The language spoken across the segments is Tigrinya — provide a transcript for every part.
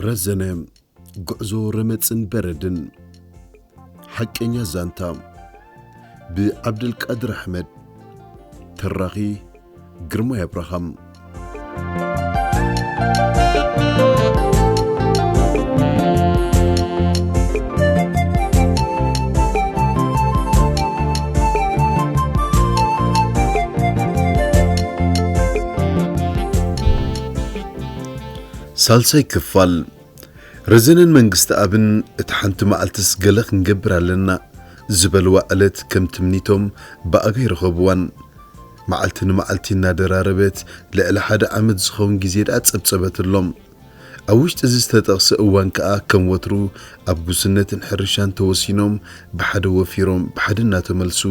ረዘነ ጉዕዞ ረመጽን በረድን ሓቀኛ ዛንታ ብዓብደልቃድር ኣሕመድ ተራኺ ግርማይ ኣብርሃም ሳልሳይ ክፋል ረዘነን መንግስተኣብን እታ ሓንቲ መዓልትስ ገለ ክንገብር ኣለና ዝበልዋ ዕለት ከም ትምኒቶም ብኣጋይ ረኸብዋን። መዓልቲ ንመዓልቲ እናደራረበት ልዕሊ ሓደ ዓመት ዝኸውን ግዜ ደኣ ጸብጸበትሎም። ኣብ ውሽጢ እዚ ዝተጠቕሰ እዋን ከኣ ከም ወትሩ ኣብ ጉስነትን ሕርሻን ተወሲኖም ብሓደ ወፊሮም ብሓደ እናተመልሱ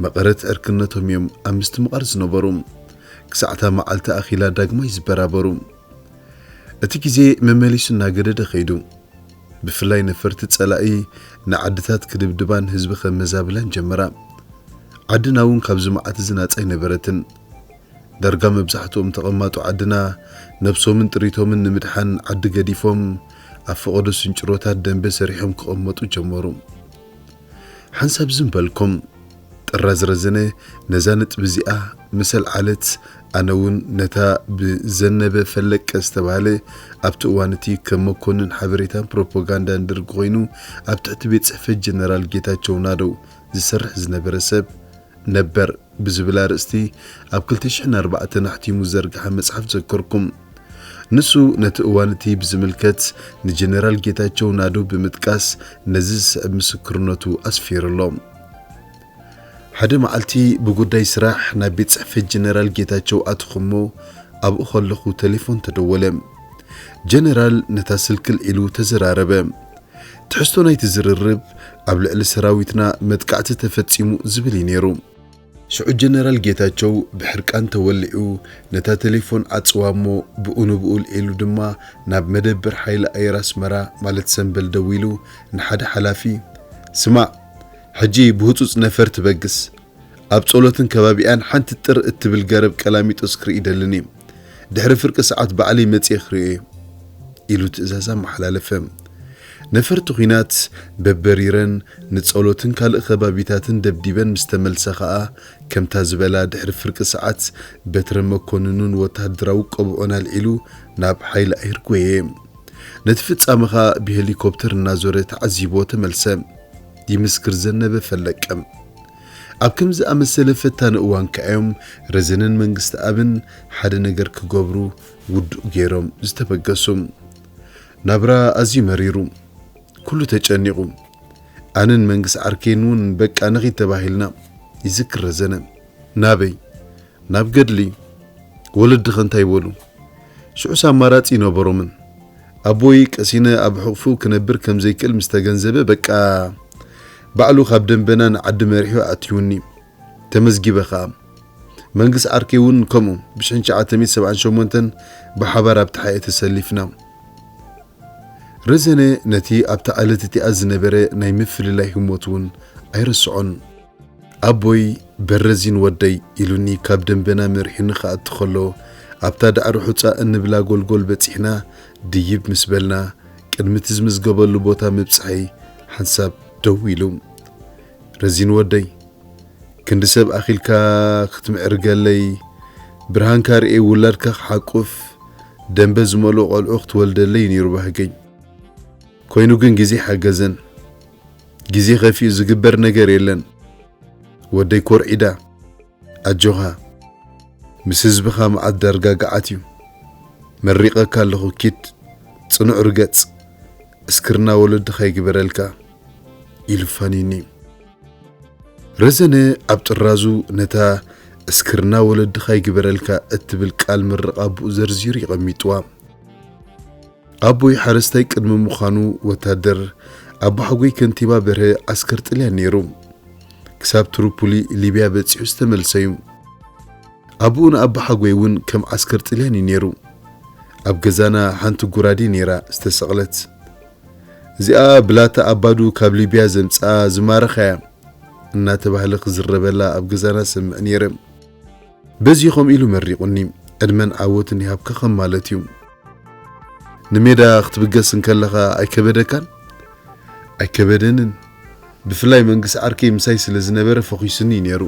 መቐረት ዕርክነቶም እዮም ኣብ ምስትምቓር ዝነበሩ። ክሳዕ እታ መዓልቲ ኣኺላ ዳግማይ ዝበራበሩ። እቲ ግዜ መመሊሱ እናገደደ ከይዱ። ብፍላይ ነፈርቲ ጸላኢ ንዓድታት ክድብድባን ህዝቢ ከመዛብላን ጀመራ። ዓድና እውን ካብዚ መዓት እዚ ናጻ ኣይነበረትን። ዳርጋ መብዛሕትኦም ተቐማጦ ዓድና ነብሶምን ጥሪቶምን ንምድሓን ዓዲ ገዲፎም ኣብ ፈቐዶ ስንጭሮታት ደምበ ሰሪሖም ክቐመጡ ጀመሩ። ሓንሳብ ዝም በልኩም ጥራዝ ረዘነ ነዛ ነጥቢ እዚኣ ምስ ኣልዓለት፣ ኣነ እውን ነታ ብዘነበ ፈለቀ ዝተባህለ ኣብቲ እዋን እቲ ከም መኮንን ሓበሬታን ፕሮፖጋንዳን ደርግ ኮይኑ ኣብ ትሕቲ ቤት ጽሕፈት ጀነራል ጌታቸው ናደው ዝሰርሕ ዝነበረ ሰብ ነበር ብዝብል ኣርእስቲ ኣብ ክልተ ሽሕን ኣርባዕተን ኣሕቲሙ ዝዘርግሐ መጽሓፍ ዘከርኩም። ንሱ ነቲ እዋን እቲ ብዝምልከት ንጀነራል ጌታቸው ናደው ብምጥቃስ ነዚ ዝስዕብ ምስክርነቱ ኣስፊሩ ኣሎ። ሓደ መዓልቲ ብጉዳይ ስራሕ ናብ ቤት ጽሕፈት ጀነራል ጌታቸው ኣተኹ እሞ ኣብኡ ከለኹ ተሌፎን ተደወለ። ጀነራል ነታ ስልኪ ኣልዒሉ ተዘራረበ። ትሕዝቶ ናይቲ ዝርርብ፣ ኣብ ልዕሊ ሰራዊትና መጥቃዕቲ ተፈጺሙ ዝብል እዩ ነይሩ። ሽዑ ጀነራል ጌታቸው ብሕርቃን ተወሊዑ ነታ ተሌፎን ዓጽዋ እሞ ብኡ ንብኡ ኣልዒሉ ድማ ናብ መደበር ሓይሊ ኣየር ኣስመራ ማለት ሰምበል ደዊሉ ንሓደ ሓላፊ ስማዕ ሕጂ ብህጹጽ ነፈር ትበግስ ኣብ ጸሎትን ከባቢኣን ሓንቲ ጥር እትብል ገረብ ቀላሚጦስ ክርኢ እደልን'የ። ድሕሪ ፍርቂ ሰዓት ባዕለይ መጺኤ ክርእዮ'የ። ኢሉ ትእዛዝ ኣመሓላለፈ። ነፈርቲ ኵናት በበሪረን ንጸሎትን ካልእ ከባቢታትን ደብዲበን ምስ ተመልሳ ከኣ ከምታ ዝበላ ድሕሪ ፍርቂ ሰዓት በትረ መኰንኑን ወተሃደራዊ ቆብዑን ኣልዒሉ ናብ ሓይሊ ኣየር ጐየ። ነቲ ፍጻመ ከኣ ብሄሊኮፕተር እናዞረ ተዓዚብዎ ተመልሰ። ይምስክር ዘነበ ፈለቀ። ኣብ ከምዚ ዝኣመሰለ ፈታኒ እዋን ከኣ እዮም ረዘነን መንግስተኣብን ሓደ ነገር ክገብሩ ውዱእ ገይሮም ዝተበገሱ። ናብራ ኣዝዩ መሪሩ። ኩሉ ተጨኒቑ። ኣነን መንግስ ዓርከይን'ውን በቃ ንኺድ ተባሂልና፣ ይዝክር ረዘነ። ናበይ? ናብ ገድሊ? ወለድኺ እንታይ በሉ? ሽዑስ ኣማራጺ ኣይነበሮምን። ኣቦይ ቀሲነ ኣብ ሕቕፉ ክነብር ከም ዘይክእል ምስ ተገንዘበ በቃ ባዕሉ ካብ ደንበና ንዓዲ መሪሑ ኣእትዩኒ። ተመዝጊበ ከኣ። መንግስ ዓርከይ እውን ከምኡ ብሽሕን ትሽዓተ ሚእቲ ሰብዓን ሸሞንተን ብሓባር ኣብ ተሓኤ ተሰሊፍና። ረዘነ ነቲ ኣብታ ዕለት እቲኣ ዝነበረ ናይ ምፍልላይ ህሞት እውን ኣይርስዖን። ኣቦይ በረዚን ወደይ ኢሉኒ ካብ ደንበና መሪሑኒ ክኣቱ ከሎ፣ ኣብታ ዳዕሮ ሑጻ እንብላ ጎልጎል በጺሕና ድይብ ምስ በልና፣ ቅድሚ'ቲ ዝምዝገበሉ ቦታ ምብጽሐይ ሓንሳብ ደው ኢሉ። ረዚን ወደይ! ክንዲ ሰብ ኣኺልካ ክትምዕርገለይ፣ ብርሃንካ ርእየ ውላድካ ክሓቁፍ፣ ደንበ ዝመልኦ ቆልዑ ክትወልደለይ'ዩ ነይሩ ባህገይ። ኮይኑ ግን ግዜ ሓገዘን። ግዜ ከፊኡ ዝግበር ነገር የለን ወደይ ኮርዒዳ ኣጆኻ ምስ ህዝብኻ መዓት ዳርጋ ገዓት እዩ መሪቀካ ኣለኹ ኪድ ጽኑዕ ርገጽ እስክርና ወለድኻ ይግበረልካ ኢሉ ፋኒኒ ረዘነ ኣብ ጥራዙ ነታ እስክርና ወለድኻ ይግበረልካ እትብል ቃል ምርቓ ኣቡኡ ዘርዚሩ የቐሚጥዋ። ኣቦይ ሓረስታይ ቅድሚ ምዃኑ ወታደር፣ ኣቦሓጎይ ከንቲባ በርሀ ዓስከር ጥልያን ነይሩ። ክሳብ ትሩፑሊ ሊብያ በጺሑ ዝተመልሰ'ዩ። ኣቡኡ ንኣቦሓጎይ እውን ከም ዓስከር ጥልያን እዩ ነይሩ። ኣብ ገዛና ሓንቲ ጉራዴ ነይራ ዝተሰቕለት። እዚኣ ብላታ ኣባዱ ካብ ሊብያ ዘምጽኣ ዝማረኻ'ያ እናተባህለ ክዝረበላ ኣብ ገዛና ሰምዕ ነይረ። በዚ ከምኡ ኢሉ መሪቑኒ ዕድመን ዓወትን ይሃብካ ከም ማለት እዩ። ንሜዳ ክትብገስ እንከለኻ ኣይከበደካን? ኣይከበደንን፣ ብፍላይ መንግስ ዓርከይ ምሳይ ስለ ዝነበረ ፈኺሱኒ እዩ ነይሩ።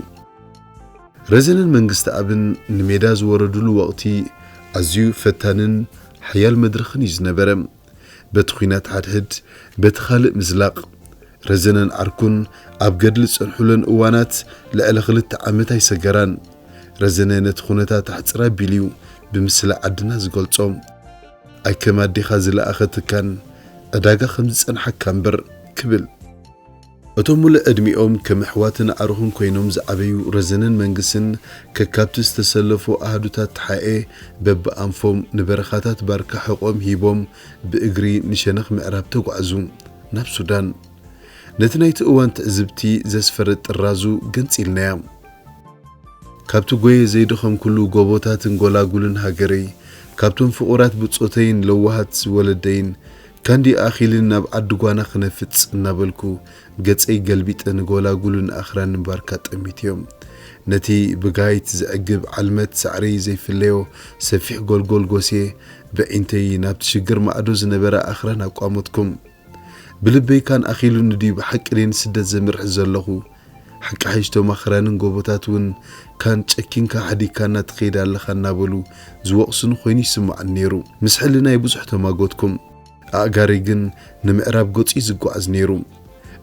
ረዘንን መንግስትኣብን ንሜዳ ዝወረዱሉ ወቕቲ ኣዝዩ ፈታንን ሓያል መድረኽን እዩ ዝነበረ። በቲ ኲናት ሓድሕድ በቲ ካልእ ምዝላቕ፣ ረዘነን ዓርኩን ኣብ ገድሊ ዝጸንሑለን እዋናት ልዕሊ ክልተ ዓመት ኣይሰገራን። ረዘነ ነቲ ኩነታት ኣሕጽር ኣቢሉ'ዩ ብምስላ ዓድና ዝገልጾ። ኣይከም ኣዴኻ ዝለኣኸትካን ዕዳጋ ከም ዝጸንሓካ'ምበር ክብል። እቶም ሙሉእ ዕድሚኦም ከም ኣሕዋትን ኣዕሩኽን ኮይኖም ዝዓበዩ ረዘነን መንግስን ከካብቲ ዝተሰለፉ ኣሃዱታት ተሓኤ በብኣንፎም ንበረኻታት ባርካ ሕቖኦም ሂቦም ብእግሪ ንሸነኽ ምዕራብ ተጓዕዙ። ናብ ሱዳን። ነቲ ናይቲ እዋን ትዕዝብቲ ዘስፈርጥ ጥራዙ ገንጺልናያ። ካብቲ ጎየ ዘይደኸምኩሉ ጎቦታትን ጎላጉልን ሃገረይ፣ ካብቶም ፍቑራት ብጾተይን ለዋሃት ወለደይን፣ ከንዲ ኣኺልን ናብ ዓዲ ጓና ክነፍጽ እናበልኩ ገጸይ ገልቢጠ ንጎላጉልን ኣኽራንን ባርካ ጠሚተዮ። ነቲ ብጋይት ዝዕግብ ዓልመት ሳዕሪ ዘይፍለዮ ሰፊሕ ጎልጎል ጎስየ በዒንተይ ናብቲ ሽግር ማዕዶ ዝነበራ ኣኽራን ኣቋመትኩም። ብልበይ ካን ኣኺሉኒ ድዩ ብሓቂ ድየ ንስደት ዘምርሕ ዘለኹ? ሓቂ ሓይሽ እቶም ኣኽራንን ጎቦታት እውን ካን ጨኪንካ ሓዲግካና ትኸይድ ኣለኻ እናበሉ ዝወቕሱኒ ኮይኑ ይስምዓኒ ነይሩ። ምስ ሕልናይ ብዙሕ ተማጎትኩም። ኣእጋረይ ግን ንምዕራብ ገጹ እዩ ዝጓዓዝ ነይሩ።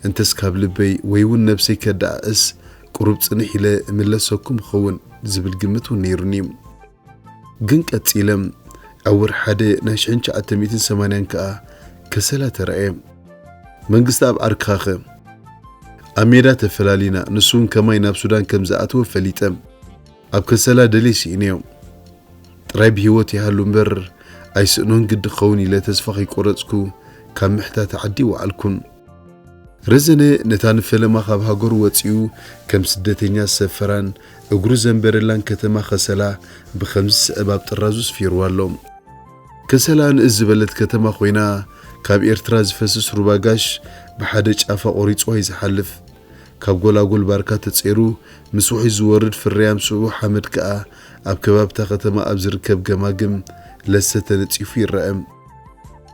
እንተስ ካብ ልበይ ወይ እውን ነብሰይ ከደኣዕስ ቁሩብ ጽንሕ ኢለ እምለሰኩም እኸውን ዝብል ግምት እውን ነይሩኒ። ግን ቀጺለም ኣብ ወርሒ ሓደ ናይ ሽሕን ትሽዓተ ሚእትን ሰማንያን ከኣ ከሰላ ተራእየ። መንግስተኣብ ዓርክኻኸ? ኣብ ሜዳ ተፈላሊና፣ ንሱውን ከማይ ናብ ሱዳን ከም ዝኣተወ ፈሊጠ። ኣብ ከሰላ ደልየ ስኢነዮ። ጥራይ ብህይወት ይሃሉ እምበር ኣይስእኖን ግዲ ክኸውን ኢለ ተስፋ ከይቆረጽኩ ካብ ምሕታት ዓዲ ኣይወዓልኩን። ረዘነ ነታ ንፈለማ ካብ ሃገሩ ወጺኡ ከም ስደተኛ ዝሰፈራን እግሩ ዘንበረላን ከተማ ከሰላ ብኸምዚ ዝስዕብ ኣብ ጥራዙ ስፊርዋ ኣሎ። ከሰላ ንእስ ዝበለት ከተማ ኮይና፣ ካብ ኤርትራ ዝፈስስ ሩባ ጋሽ ብሓደ ጫፋ ቆሪጽዋ እዩ ዝሓልፍ። ካብ ጎላጉል ባርካ ተጸይሩ ምስ ውሕጅ ዝወርድ ፍርያም ስብኡ ሓመድ ከኣ ኣብ ከባቢ'ታ ከተማ ኣብ ዝርከብ ገማግም ለሰ ተነጺፉ ይረኣ።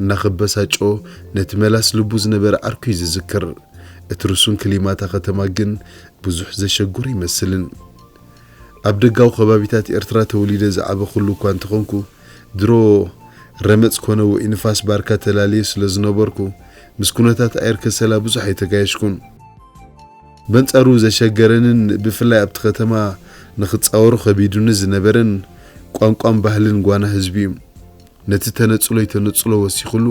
እናኸበሳጮ ነቲ መላስ ልቡ ዝነበረ ዓርኩ'ዩ ዝዝክር። እቲ ርሱን ክሊማ'ታ ከተማ ግን ብዙሕ ዘሸግሮ ኣይመስልን። ኣብ ደጋዊ ከባቢታት ኤርትራ ተወሊደ ዝዓበኹሉ እኳ እንተኾንኩ፣ ድሮ ረመጽ ኮነ ውዑይ ንፋስ ባርካ ተላልየ ስለ ዝነበርኩ፣ ምስ ኩነታት ኣየር ከሰላ ብዙሕ ኣይተጋየሽኩን። በንጻሩ ዘሸገረንን ብፍላይ ኣብቲ ከተማ ንኽጻወሮ ከቢዱኒ ዝነበረን፣ ቋንቋን ባህልን ጓና ህዝቢ'ዩ። ነቲ ተነጽሎይ ተነጽሎ ወሲኹሉ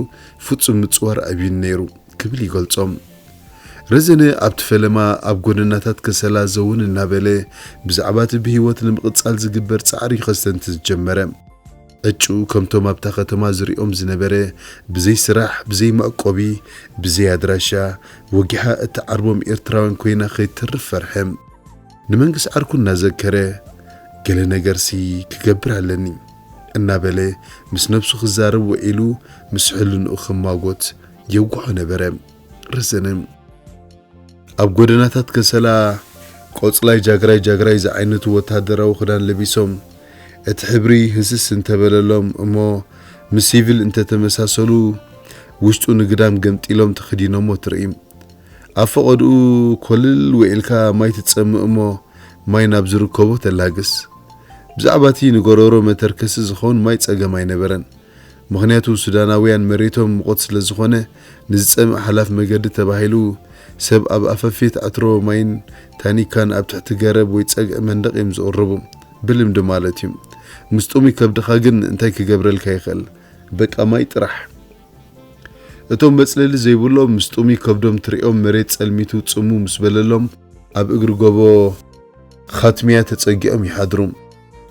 ፍጹም ምጽዋር ኣብዩኒ ነይሩ ክብል ይገልጾ። ረዘነ ኣብቲ ፈለማ ኣብ ጎደናታት ከሰላ ዘውን እናበለ ብዛዕባቲ ብህይወት ንምቕጻል ዝግበር ጻዕሪ እዩ ከስተንትን ዝጀመረ። ዕጭኡ ከምቶም ኣብታ ከተማ ዝሪኦም ዝነበረ ብዘይ ስራሕ፣ ብዘይ መዕቆቢ፣ ብዘይ ኣድራሻ፣ ወጊሓ እትዓርቦም ኤርትራውያን ኮይና ከይትተርፍ ፈርሐ። ንመንግስ ዓርኩ እናዘከረ ገለ ነገርሲ ክገብር ኣለኒ። እናበለ ምስ ነብሱ ክዛረብ ውዒሉ ምስ ሕልንኡ ክማጎት የውግሖ ነበረ። ረዘነ። ኣብ ጎደናታት ከሰላ ቆጽላይ ጃግራይ ጃግራይ ዝዓይነቱ ወተሃደራዊ ክዳን ለቢሶም እቲ ሕብሪ ህስስ እንተበለሎም እሞ ምስ ሲቪል እንተተመሳሰሉ ውሽጡ ንግዳም ገምጢሎም ተኽዲኖሞ ትርኢ። ኣብ ፈቐድኡ ኮልል ዊዒልካ ማይ ትጸምእ እሞ ማይ ናብ ዝርከቦ ተላግስ። ብዛዕባ እቲ ንጎሮሮ መተርከሲ ዝኸውን ማይ ጸገም ኣይነበረን። ምኽንያቱ ሱዳናውያን መሬቶም ምቑት ስለ ዝኾነ ንዝጸምእ ሓላፍ መገዲ ተባሂሉ ሰብ ኣብ ኣፈፌት ዕትሮ ማይን ታኒካን ኣብ ትሕቲ ገረብ ወይ ጸግዒ መንደቕ እዮም ዝቕርቡ። ብልምዲ ማለት እዩ። ምስ ጥሙይ ከብድኻ ግን እንታይ ክገብረልካ ይኽእል? በቃ ማይ ጥራሕ። እቶም መጽለሊ ዘይብሎም ምስ ጥሙይ ከብዶም ትርእዮም መሬት ጸልሚቱ ጽምው ምስ በለሎም ኣብ እግሪ ጎቦ ኻትሚያ ተጸጊዖም ይሓድሩ።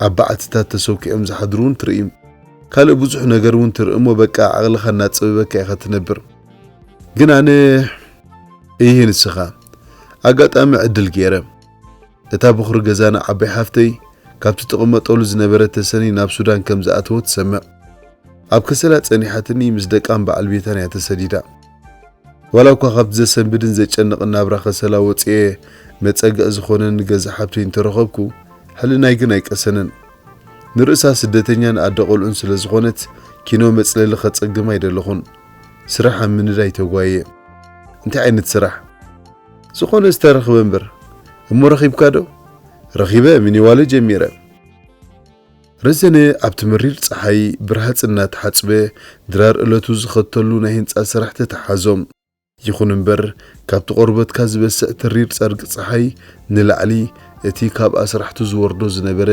ኣብ በዓትታት ተሰኲዖም ዝሓድሩ እውን ትርኢ። ካልእ ብዙሕ ነገር እውን ትርኢ እሞ በቃ ዓቕልኻ እናጸበበካ ኢኻ ትነብር። ግን ኣነ እይህ ንስኻ ኣጋጣሚ ዕድል ገይረ። እታ በዅሪ ገዛና ዓባይ ሓፍተይ ካብቲ ትቕመጠሉ ዝነበረት ተሰነይ ናብ ሱዳን ከም ዝኣተወት ሰምዕ። ኣብ ከሰላ ጸኒሓትኒ ምስ ደቃን በዓል ቤታን እያ ተሰዲዳ። ዋላ እኳ ካብቲ ዘሰንብድን ዘጨንቕን ናብራ ከሰላ ወጺኤ መጸግዒ ዝኾነኒ ገዛ ሓብተይ እንተረኸብኩ፣ ሕልናይ ግን ኣይቀሰነን። ንርእሳ ስደተኛን ኣደ ቈልዑን ስለ ዝኾነት ኪኖ መጽለሊ ከጸግማ ኣይደለኹን። ስራሕ ኣብ ምንዳይ ተጓይየ። እንታይ ዓይነት ስራሕ? ዝኾነ ዝተረኽበ እምበር እሞ ረኺብካ ዶ? ረኺበ ሚኒዋለ ጀሚረ። ረዘነ ኣብቲ መሪር ጸሓይ ብርሃጽ እናተሓጽበ ድራር እለቱ ዝኸተሉ ናይ ህንጻ ስራሕ ተተሓሓዞ። ይኹን እምበር ካብቲ ቆርበትካ ዝበስዕ ተሪር ጸርግ ጸሓይ ንላዕሊ እቲ ካብ ኣስራሕቱ ዝወርዶ ዝነበረ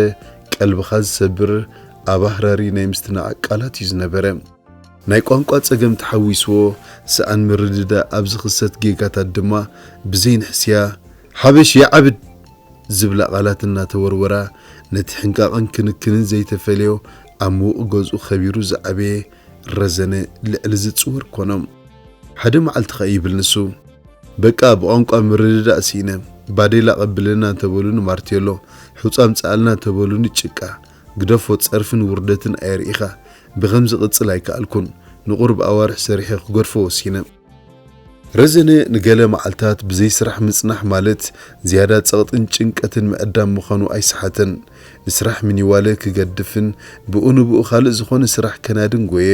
ቀልብኻ ዝሰብር ኣባህራሪ ናይ ምስትናዓቅ ቃላት እዩ ዝነበረ። ናይ ቋንቋ ጸገም ተሓዊስዎ ሰኣን ምርድዳእ ኣብ ዝኽሰት ጌጋታት ድማ ብዘይንሕስያ ሓበሽ ይዓብድ ዝብላ ቃላት እናተወርወራ ነቲ ሕንቃቕን ክንክንን ዘይተፈልዮ ኣብ ምዉቕ ገዝኡ ከቢሩ ዝዓበየ ረዘነ ልዕሊ ዝጽወር ኮኖም ሓደ መዓልቲ ከኣ ይብል ንሱ በቃ ብቋንቋ ምርድዳእ ስኢነ ባዴላ ኣቐብለና እንተበሉኒ ማርቴሎ ሑጻ ኣምጽኣልና እንተበሉኒ ጭቃ ግደፎ ጸርፍን ውርደትን ኣየርእኻ ብኸምዚ ክቅጽል ኣይከኣልኩን ንቁሩብ ኣዋርሕ ሰሪሐ ክገድፎ ወሲነ። ረዘነ ንገለ መዓልታት ብዘይ ስራሕ ምጽናሕ ማለት ዝያዳ ጸቕጥን ጭንቀትን ምዕዳም ምዃኑ ኣይሰሓተን። ንስራሕ ሚኒዋለ ክገድፍን ብኡ ንብኡ ካልእ ዝኾነ ስራሕ ከናድን ጎየ።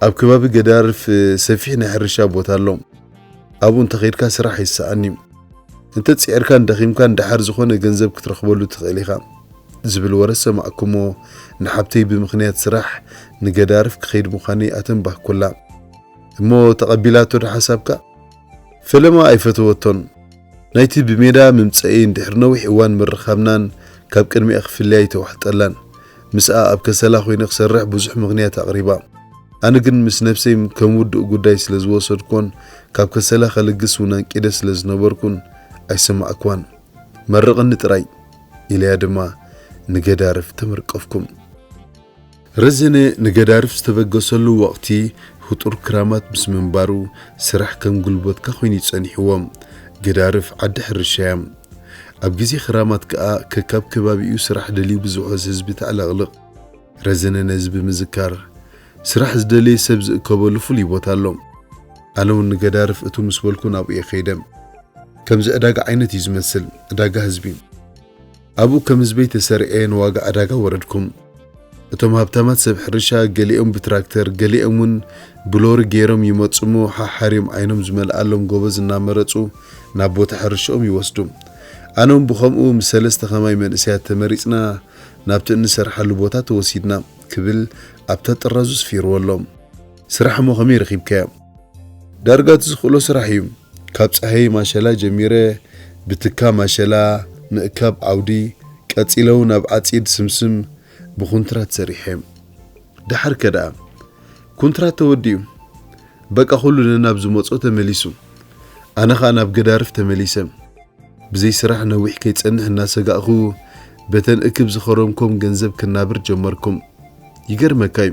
ኣብ ከባቢ ገዳርፍ ሰፊሕ ናይ ሕርሻ ቦታ ኣሎ። ኣብኡ እንተኸይድካ ስራሕ ይሰኣን'ዩ፣ እንተ ጺዒርካን ደኺምካን ደሓር ዝኾነ ገንዘብ ክትረኽበሉ ትኽእል ኢኻ ዝብል ወረ ሰማዕኩ'ሞ ንሓብተይ ብምኽንያት ስራሕ ንገዳርፍ ክኸይድ ምዃነይ ኣተንባህኩላ። እሞ ተቐቢላቶ'ዶ ሓሳብካ? ፈለማ ኣይፈተወቶን። ናይቲ ብሜዳ ምምጸኢን ድሕሪ ነዊሕ እዋን ምርኻብናን ካብ ቅድሚኣ ክፍለያ ኣይተዋሕጠላን። ምስኣ ኣብ ከሰላ ኮይነ ክሰርሕ ብዙሕ ምኽንያት ኣቕሪባ። ኣነ ግን ምስ ነብሰይ ከም ውዱእ ጉዳይ ስለ ዝወሰድኩዎን ካብ ከሰላ ከልግስ እውን ኣንቂደ ስለ ዝነበርኩን ኣይሰማዕኩዋን። መርቕኒ ጥራይ! ኢለያ ድማ ንገዳርፍ ተመርቀፍኩም። ረዘነ ንገዳርፍ ዝተበገሰሉ ወቕቲ ህጡር ክራማት ምስ ምንባሩ ስራሕ ከም ጉልበትካ ኮይኑ'ዩ ጸኒሕዎ። ገዳርፍ ዓዲ ሕርሻ'ያ። ኣብ ግዜ ክራማት ከኣ ከካብ ከባቢኡ ስራሕ ደልዩ ብዝውሕዝ ህዝቢ ተዕለቕልቕ። ረዘነ ነዚ ብምዝካር፣ ስራሕ ዝደለየ ሰብ ዝእከበሉ ፍሉይ ቦታ ኣሎ። ኣነ'ውን ንገዳርፍ እትው ምስ በልኩ ናብኡ'የ ከይደ። ከምዚ ዕዳጋ ዓይነት'ዩ ዝመስል፣ ዕዳጋ ህዝቢ። ኣብኡ ከም ህዝበይ ተሰሪዐ ንዋጋ ዕዳጋ ወረድኩም። እቶም ሃብታማት ሰብ ሕርሻ ገሊኦም ብትራክተር ገሊኦም ውን ብሎሪ ገይሮም ይመጹ እሞ ሓሓርዮም ዓይኖም ዝመልኣሎም ጎበዝ እናመረጹ ናብ ቦታ ሕርሽኦም ይወስዱ። ኣነ ውን ብኸምኡ ምስ ሰለስተ ከማይ መንእሰያት ተመሪጽና ናብቲ እንሰርሓሉ ቦታ ተወሲድና ክብል ኣብታ ጥራዙ ስፊርዎ ኣሎ። ስራሕ እሞ ከመይ ረኺብካዮ? ዳርጋ እቲ ዝኽእሎ ስራሕ እዩ። ካብ ጸሀይ ማሸላ ጀሚረ ብትካ ማሸላ፣ ምእካብ ዓውዲ፣ ቀጺለውን ኣብ ዓጺድ ስምስም ብኩንትራት ሰሪሐ። ደሓር ከ ደኣ? ኩንትራት ተወዲኡ። በቃ ኩሉ ነናብ ዝመጾ ተመሊሱ። ኣነ ከኣ ናብ ገዳርፍ ተመሊሰ። ብዘይ ስራሕ ነዊሕ ከይጸንሕ እናሰጋእኩ በተን እክብ ዝኸረምኮም ገንዘብ ክናብር ጀመርኩ። ይገርመካ እዩ።